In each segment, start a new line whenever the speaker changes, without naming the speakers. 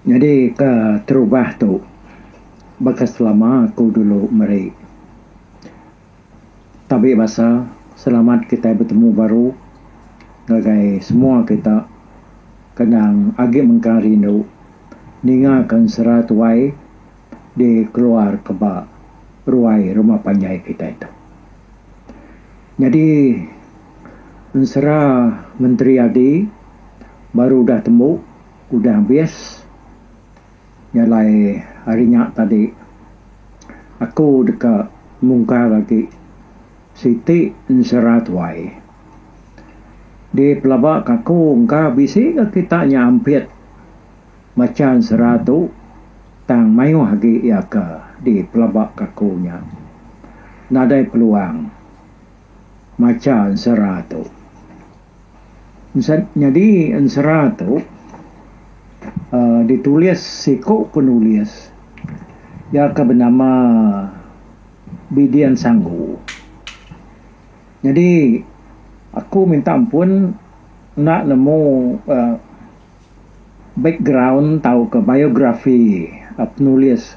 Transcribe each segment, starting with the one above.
Nyadi ke terubah tu baka selama ku dulu meri tabi basa selamat kitai betemu baru ngagai semua kita kendang agi mengkang rindu ninga ke ensera tuai. dikeluarka ba ruai rumah panjai kitai tu. Nyadi ensera menteri agi baru udah tembu udah habis nya alai hari nya tadi aku deka mungkar agi siti ensera tuai dipelaba ka aku engka bisi ka kita nya ampit. Machan sera tu, tang mayuh agi iya ke dipelaba ke aku nya. Nadai peluang macha ensera tu. Ensed nyadi ensera tu uhh ditulis siku penulis iya ke benama Bidian Sanggu. Nyadi aku minta ampun enda nemu uhh. Background tauka biografi penulis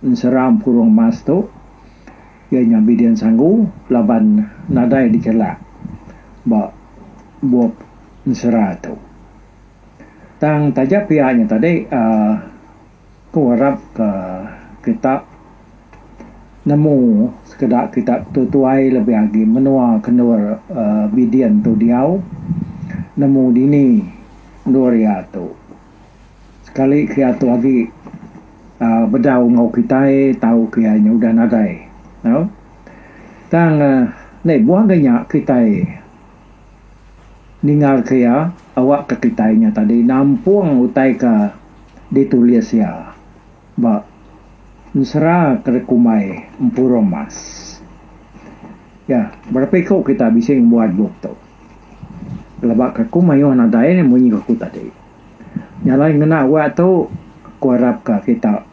ensera empurung emas tu iya nya Bidin Sanggu laban nadai dichelak ba bup ensera tu. Tang taja pia nya tadi uhh. Aku arap ka kita nemu sekeda kita betutuai lebih agi menua ke endur Bidin tu diau nemu dini endur iya tu sekali ke iya tu agi bedau enggau kitai tau ke iya nya udah nadai tau tang enda ibuh agi nya kitai Ningalka iya awakka kitai nya tadi nampung utai ke ditulis iya ba ensera ke dikumbai Empurum Mas. Ya, berapa iku kitai bisi ngembuan bup tu. Pelaba ke aku mayuh nadai ne munyi aku tadi. Nya alai ngena awak tu aku arapka kita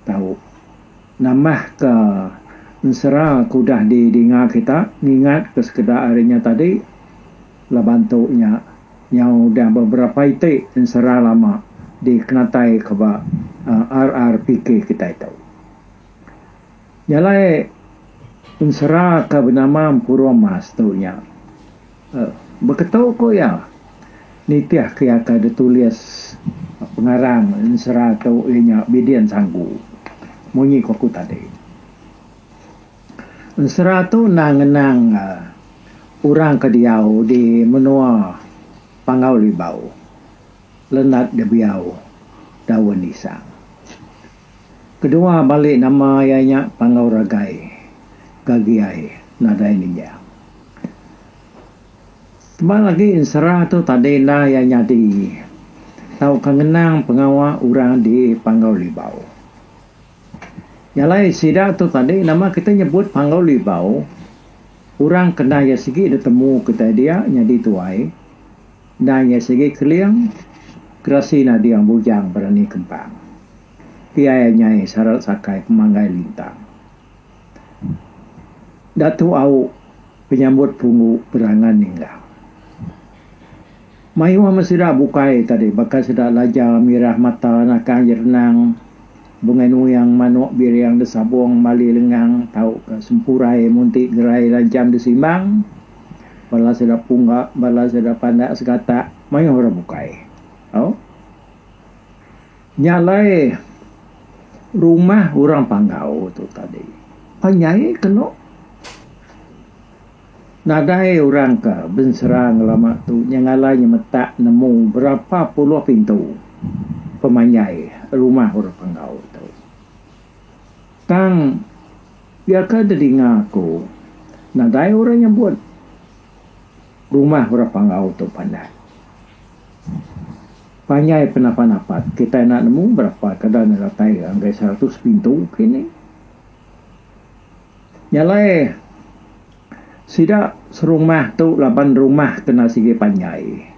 tau. Nambahka, ensera ke udah didinga kita ngingatka sekeda ari nya tadi laban tu nya nyau udah beberapa iti ensera lama dikenataika ba RRPK kitai tu. Nya alai ensera ke benama Empuruh Mas tu nya. Beketu ku iya, nitih ke iya ke ditulis pengarang ensera tu iya nya Bidin Sanggu. Munyi ku aku tadi, ensera tu endang ngenang orang ke diau di menua Panggau Libau, Lenat Debiau Daun Isang. Kedua balik nama iya nya Panggau Ragai gagi ai nadai ninjau. Tebal agi ensera tu tadi enda iya nyadi tauka ngenang pengawa orang di Panggau Libau. Nya alai sida tu tadi nama kita nyebut Panggau Libau orang kena iya sigi ditemu kitai dia nyadi tuai. Endang iya sigi keling, gerasi nading bujang berani kempang. Pia iya nyai sarat sakai pemanggai lintang. Datu Au penyambut punggu berangan ninggal. Mayuh amat sida bukai tadi baka sida laja mirah mata nakang jerenang, bungai nuyang manuk biring desabung bali lengang tauka sempurai munti gerai lancham disimbang. Bala sida pungga, bala sida pandak segatak mayuh orang bukai. Au. Nya alai rumah orang Panggau tu tadi pan nyai kenu nadai orang ke bensera ngelama tu nya ngalai nyemetak nemu berapa puluh pintu pemanjai rumah orang Panggau tu. Tang Iya ke dedinga aku, nadai orang nyebut rumah orang Panggau tu pandan. Panjai penapan apat, kitai enda nemu berapa kada nya datai ngagai seratus pintu kini. Nya alai sida serumah tu laban rumah kena sigi panjai.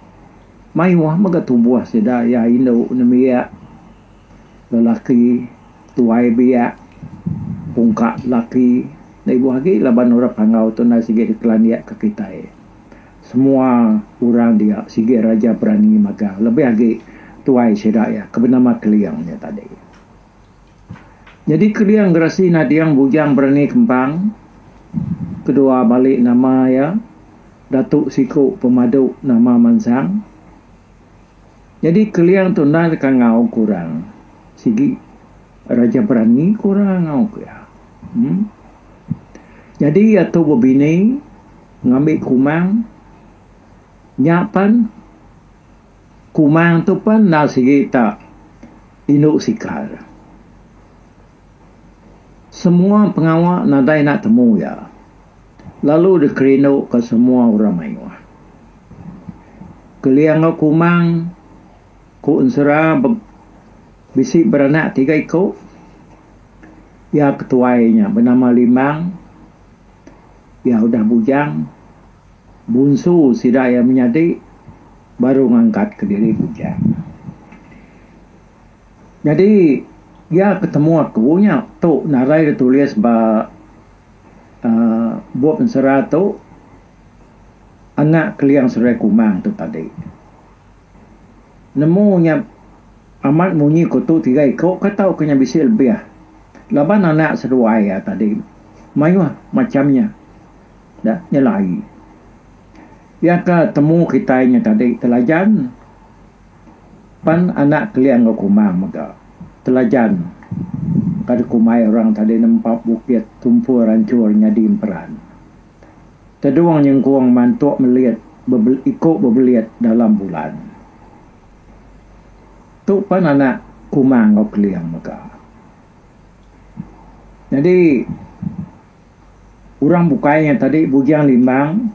Mayuh mega tubuh sida iya indu nembiak. Lelaki tuai biak pungka lelaki da ibuh agi laban orang Panggau tu enda sigi dikelandik ka kitai. Semua orang dia sigi raja berani magang lebih agi tuai sida iya ke benama Keling nya tadi. Nyadi Keling gerasi nading bujang berani kembang kedua bali nama iya Datu Siku Pemadu nama mansang. Nyadi Keliang tu endai deka ngauk orang sigi Raja Berani ku orang ngauk iya. Em. Nyadi iya tu bebini ngambi Kumang nya pen Kumang tu pen enda sigi ta indu sikal. Semua pengawa nadai enda temu iya. Lalu dikerindu ka semua orang mayuh. Kelia enggau Kumang, ku ensera bisi beranak tiga iku. Iya ke tuai nya benama Limbang. Iya udah bujang. Bunsu sida iya menyadi baru ngangkat ke diri bujang. Nyadi iya ke temu aku nya tu narai ditulis ba. uhh bup ensera tu anak keliang serai kumang tu tadi nemu nya amat munyi kutu tiga iku kai tau nya bisi lebih laban anak seduai iya tadi mayuh macham nya da nyelai iya ka temu kitai nya tadi telajan. Pan anak keling enggau kumang mega telajan kada kumai orang tadi nempap bukit tumpul rancur nyadi emperan. Tedung nyengkung mantuk melit bebel iku bebelit dalam bulan. Tu pan anak kumang enggau keling mega. Nyadi. Urang bukai nya tadi Bujang Limbang.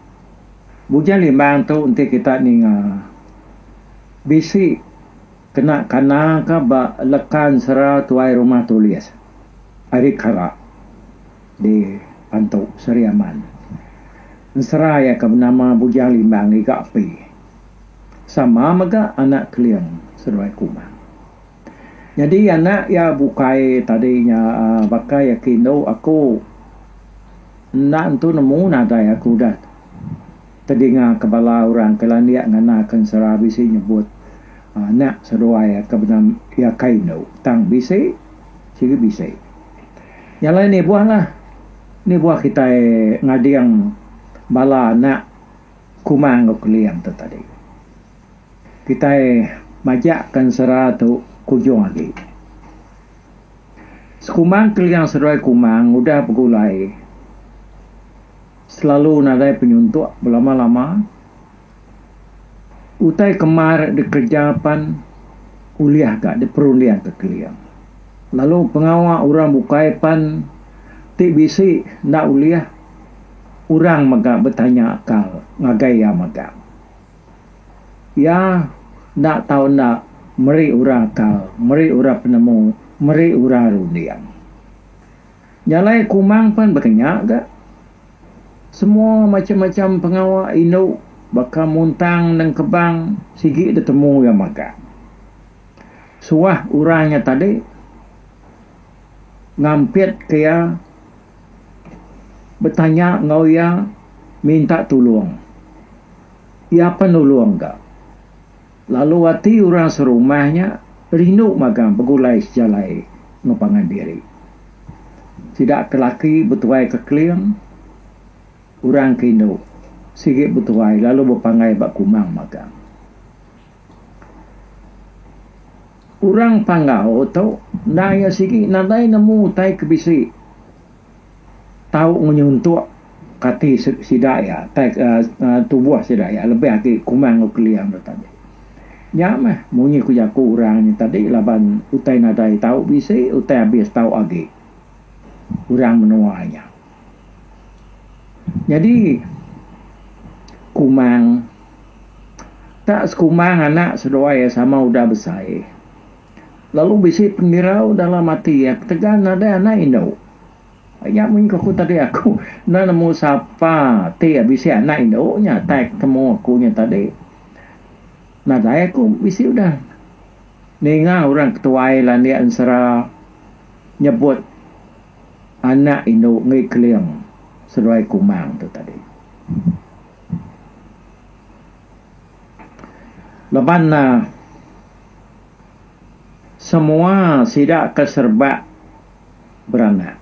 Bujang Limbang tu enti kita ninga bisi kena kana ka ba lekan sera Tuai Rumah Tulis ari Kara di Pantu Seri Aman. Ensera iya ke benama Bujang Limbang ngiga api sama mega anak Keling seduai Kumang. Nyadi anak iya bukai tadi nya baka iya ke indu aku. Enda entu nemu nadai aku udah tedingaka bala orang ke landik ngandaka ensera bisi nyebut anak seduai iya ke benam iya kai indu. Tang bisi sigi bisi. Nya alai nibuhlah, nibuh kitai ngading bala anak kuma enggau keling tu tadi. Kitai majak ke ensera tu kujung agi. Sekumbang Keliang Seduai Kumang ngudah begulai selalu nadai penyuntuk belama-lama. Utai kemar dikereja pan ulih ka diperunding ke Keliang. Lalu pengawa orang bukai pan ti bisi enda ulih orang mega betanya akal ngagai iya mega. Iya enda tau enda meri orang akal, meri orang penemu, meri orang runding. Jalai kumang pen baka nya ga. Semua macam-macam pengawa indu baka muntang nengkebang sigi ditemu iya magang. Suah orang nya tadi ngampitka iya. Betanya enggau iya minta tulung. Iya pen nulung ga. Lalu ati orang serumah nya rindu magang begulai sejalai enggau pangan diri. Sida ke laki betuai ke Kling, orang ke indu sigi betuai lalu bepanggai ba Kumang magang. Orang Panggau tu enda iya sigi nadai nemu utai ke bisi tau ngenyuntok kati sida iya utai uhh tubuh sida iya lebih agi Kumang enggau Keling tu tadi. Nya meh munyi ku jaku orang nya tadi laban utai nadai tau bisi utai abis tau agi orang menua nya. Nyadi kumang ka sekumang anak seduai iya sama udah besai lalu bisi pendirau dalam ati iya ketegal nadai anak indu. Nya mun ku tadi aku enda nemu sapa ti bisi anak indu nya tai ketemu aku nya tadi. Nadai aku bisi udah ninga orang ketuai landik ensera nyebut. Anak indu enggi keling seduai kumang tu tadi. Laban ne semua sida ke serba beranak.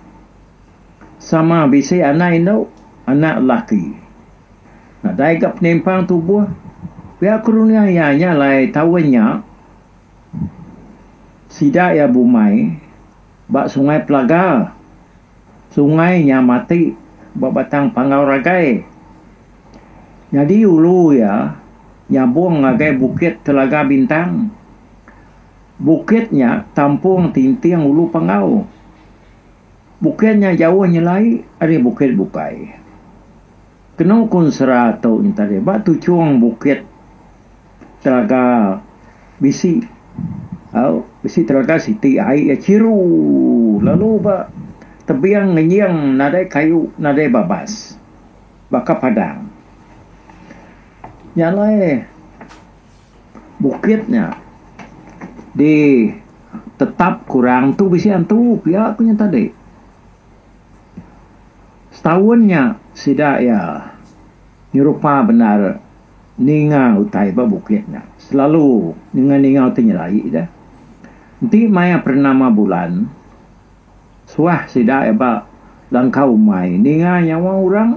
Sama bisi anak indu, anak lelaki. Nadai ga penimpang tubuh. Pia ku dunya iya nya alai taun nya sida iya bumai. Ba Sungai Pelagar, sungai nya mati ba batang panggau ragai. Nyadi ulu iya nyabung ngagai Bukit Telaga Bintang. Bukit nya tampung tinting ulu panggau. Bukit nya jauh nyelai ari Bukit Bukai. Kenu ku ensera tu ntadi ba tuchung bukit Telaga bisi au bisi telaga siti ai iya chiru lalu ba tebing ngenying nadai kayu nadai babas baka padang. Nya alai bukit nya di tetap ku orang tu bisi antu pia ku nya tadi. Setaun nya sida iya. Nyerupa bendar ninga utai ba bukit nya selalu ninga ninga utai nyelai da. Enti maya pernama bulan suah sida ba langkau umai ninga nyawa orang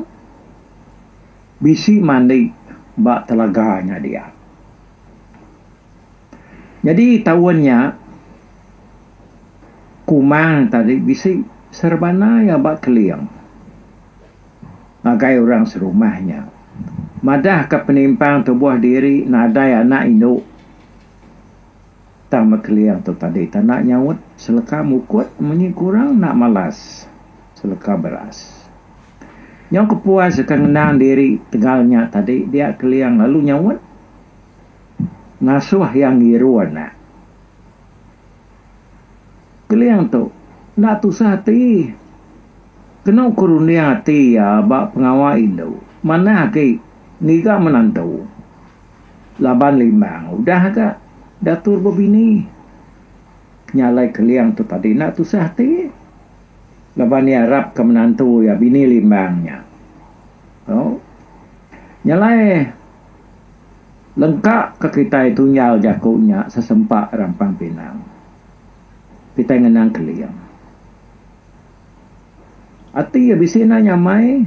bisi mandi ba telaga nya dia. Nyadi taun nya kumang tadi bisi serebana iya ba keling. ngagai orang serumah nya. Madahka penimpang tubuh diri nadai anak indu tang Mekeling tu tadi tanda nyaut seleka mukut munyi kurang enda malas seleka beras. Nyau kepuas ka ngenang diri tegal nya tadi dia Keling lalu nyaut ngasuh iya ngirun. Keling tu enda tusah ati. Kenu ku runding ati iya ba pengawa indu manah agi ngiga menantu laban limbang udah ga datur bebini. Penyalai Keling tu tadi enda tusah ati laban iya arapka menantu iya bini limbang nya. Nyalai. Lengka ka kitai tunjau jaku nya sesempa rampang pinang. Kitai ngenang Keling. Ati iya bisi enda nyamai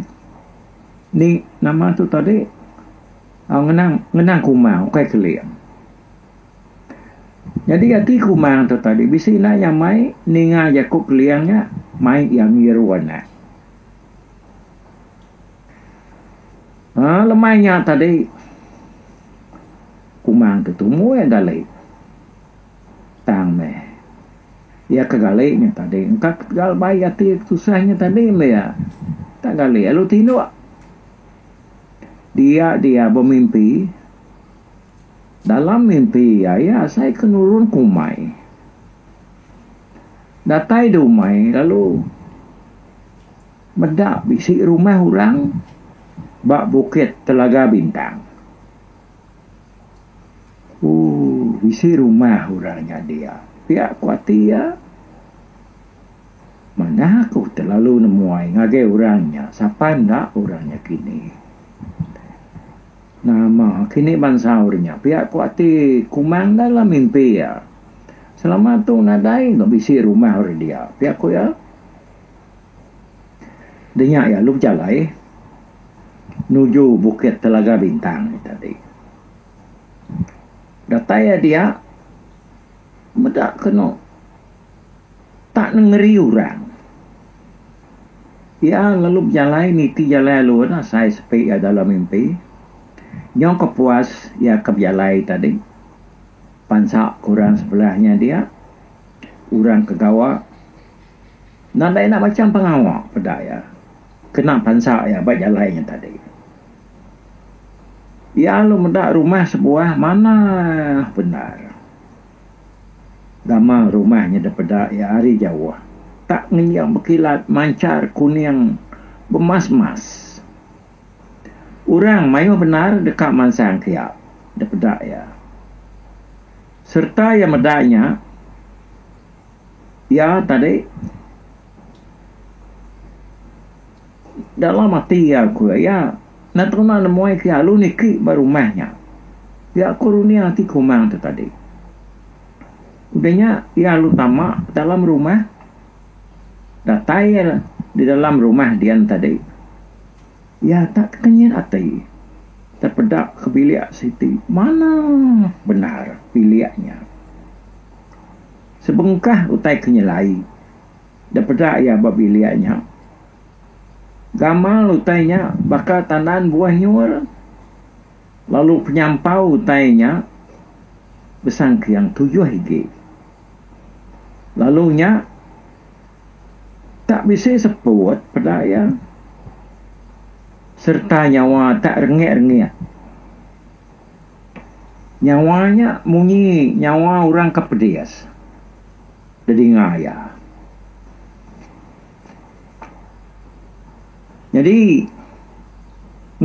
ni nama tu tadi au ngenang ngenang Kumang ukai Keling. Nyadi ati Kumang tu tadi bisi enda nyamai ninga jaku Keling nya mai iya ngiru anak. Haa lemai nya tadi kumang tu tumu iya gali tang meh iya ke gali nya tadi engka ketegal baik ati tusah nya tadi meh iya enda gali lalu tinduk dia dia bemimpi dalam mimpi iya iya asai ke nurun ke umai datai di umai lalu Meda bisi rumah orang ba Bukit Telaga Bintang. Ooh bisi rumah orang nyadi iya. Pia ku ati iya, manah aku telalu nemuai ngagai orang nya sapa enda orang nya kini. Nama kini bansa orang nya pia ku ati Kumang enda lah mimpi iya. Selama tu nadai bisi rumah orang dia, pia ku iya. Denya iya lu bejalai nuju Bukit Telaga Bintang nya tadi. Datai iya dia meda kenu tak nengeri orang. Iya lalu bejalai niti jalai alun asai sepi iya dalam mimpi. Nyau ke puas iya ke bejalai tadi pansa ke orang sebelah nya dia, orang ke gawa. Nadai enda macam pengawa peda iya kena pansa iya ba jalai nya tadi. Iya lalu meda rumah sebuah manah bendar. Gamal rumah nya dipeda iya ari jauh tak ngenjing bekilat manchar kuning bemas-mas. Orang mayuh bendar deka mansang ke iya dipeda iya. Sereta iya meda nya. Iya tadi dalam ati iya ku iya enda teruna nemui ke alu niki ba rumah nya. Iya ku runding ati kumang tu tadi. Udah nya iya alu tama dalam rumah datai iya di dalam rumah dian tadi iya tak kenyit ati tepeda ke bilik siti manah bendar bilik nya. Sebengkah utai ke nyelai da peda iya ba bilik nya, gamal utai nya baka tandan buah nyool, lalu penyampau utai nya besangkiang tujuh igi. Lalu nya tak bisi seput peda iya sereta nyawa tak rengik-rengik. Nyawa nya munyi nyawa orang ke pedis dedinga iya. Nyadi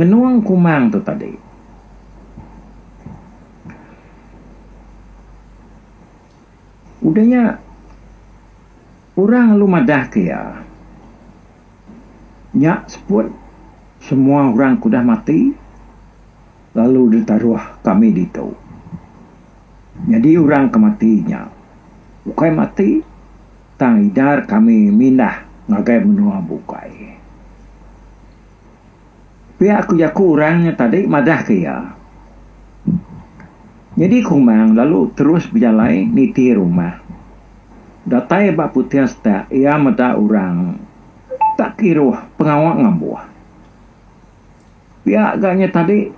ngenung kumang tu tadi udah nya orang lalu madah ke iya nya seput semua orang ke udah mati. Lalu ditaruh kami ditu. Nyadi orang ke mati nya ukai mati tang idar kami mindah ngagai menua bukai. Pia aku jaku orang nya tadi madah ke iya. Nyadi Kumang lalu terus bejalai niti rumah. Datai ba puting setak iya meda orang tak kiruh pengawa ngambuh. Pia ga nya tadi,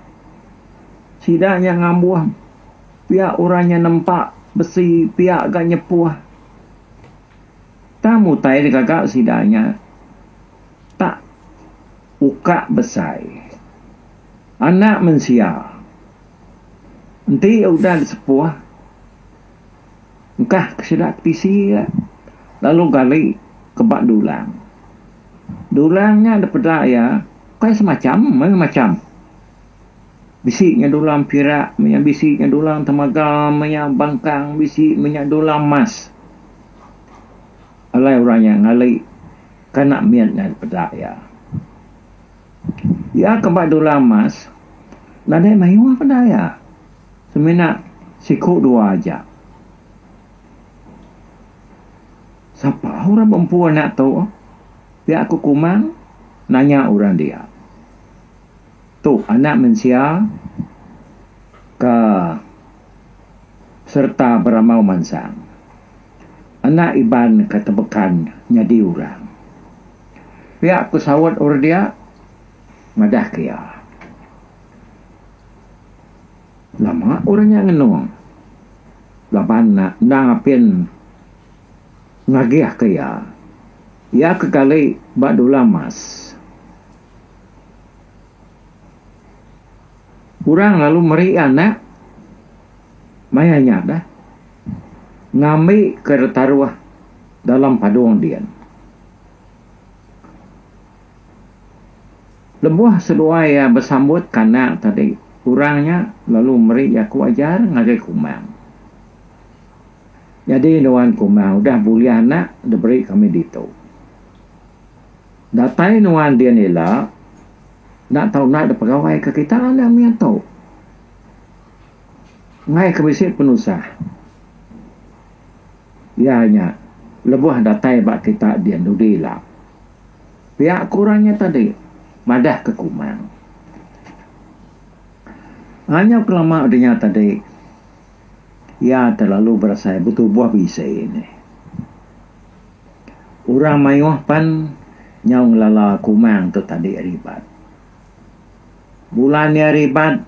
sida nya ngambuh pia orang nya nempa besi pia ga nyepuh. Tang utai deka ga sida nya tak ukak besai. Anak mensia enti udah disepuh Engkah ke sida ke tisi iya lalu gali ke ba dulang. Dulang nya da peda iya ukai semacham meh macham. Bisi nya dulang pirak meh nya bisi nya dulang temaga meh nya bangkang bisi meh nya dulang emas. Alai orang nya ngali kana mit nya da peda iya. Iya ke ba dulang emas nadai mayuh peda iya. Semina siku dua aja. Sapa orang bempu anak tu? Pia ku Kumang nanya orang dia. Tu anak mensia ke sereta beramau mansang. Anak Iban ke tebekan nyadi orang. Pia ku saut orang dia madah ke iya. Nama orang nya ngenung laban enda apin ngagihka iya. Iya ke kali ba dula emas. Orang lalu meri iya anak maya nya dah ngambika ditaruh dalam padung din. Lebuh seduai iya besambut kanak tadi, orang nya lalu meri jaku ajar ngagai Kumang. Nyadi nuan Kumang udah bulih anak diberi kami ditu. Datai nuan din ila enda tau enda dipegawaika kita anak mia tu. Enggai ke bisi penusah. Iya nya lebuh datai ba kita din dudi ila. Pia ku orang nya tadi, madah ke Kumang. Anyau kelama udah nya tadi, iya terlalu berasai betubuh bisi nih. Orang mayuh pan nyau ngelala Kumang tu tadi ribat. Bulan iya ribat,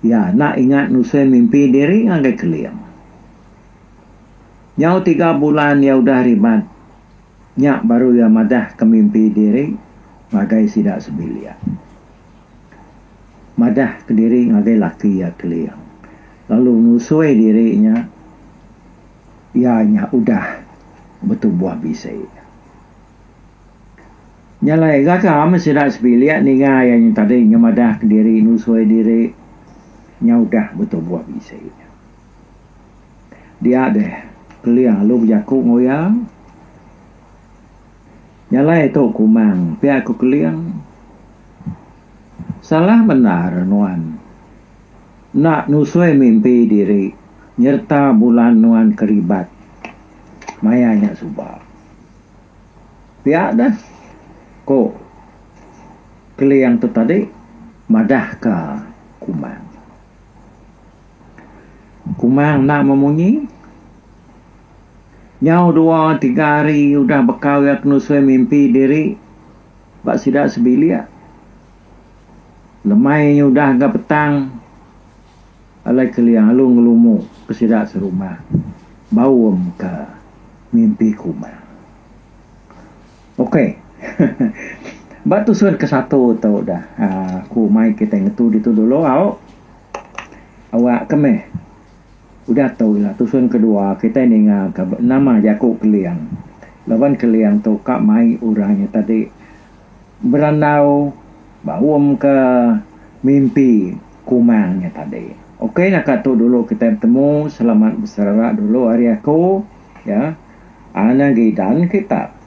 Iya enda ingat nusui mimpi diri ngagai Keling. Nyau tiga bulan iya udah rimat, nya baru iya madahka mimpi diri ngagai sida sebilik. Madahka diri ngagai laki iya Keling lalu nusui diri nya iya nya udah betubuh bisi. Nya alai, gaga meh sida sebilik ninga iya nya tadi nyemadahka diri nusui diri nya udah betubuh bisi. Dia deh Keling lalu bejaku enggau iya. Nya alai tu ku Mang pia ku Keling. Salah bendar nuan enda nusui mimpi diri nyereta bulan nuan keribat maya nya suba. Pia deh, ku Keliang tu tadi madahka Kumang. Kumang enda memunyi. Nyau dua tiga hari udah bekau iya kenusui mimpi diri ba sida sebilik. Lemai udah ga petang. Alai kelia alu ngelumu ke sida serumah baum ka mimpi kuma. Ok ba tusun ke satu tu dah aku mai kitai ngetu ditu dulu au. Awak ke meh udah tu ila tusun ke dua kitai ninga ka nama jaku Keling laban Keling tu ka mai orang nya tadi berandau Ba um ke mimpi kumang nya tadi. Ok naka tu dulu kitai betemu selamat beserara dulu ari aku ya ana gidan kita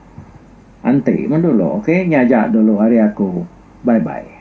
anti mun dulu ok nya aja dulu ari aku bye bye.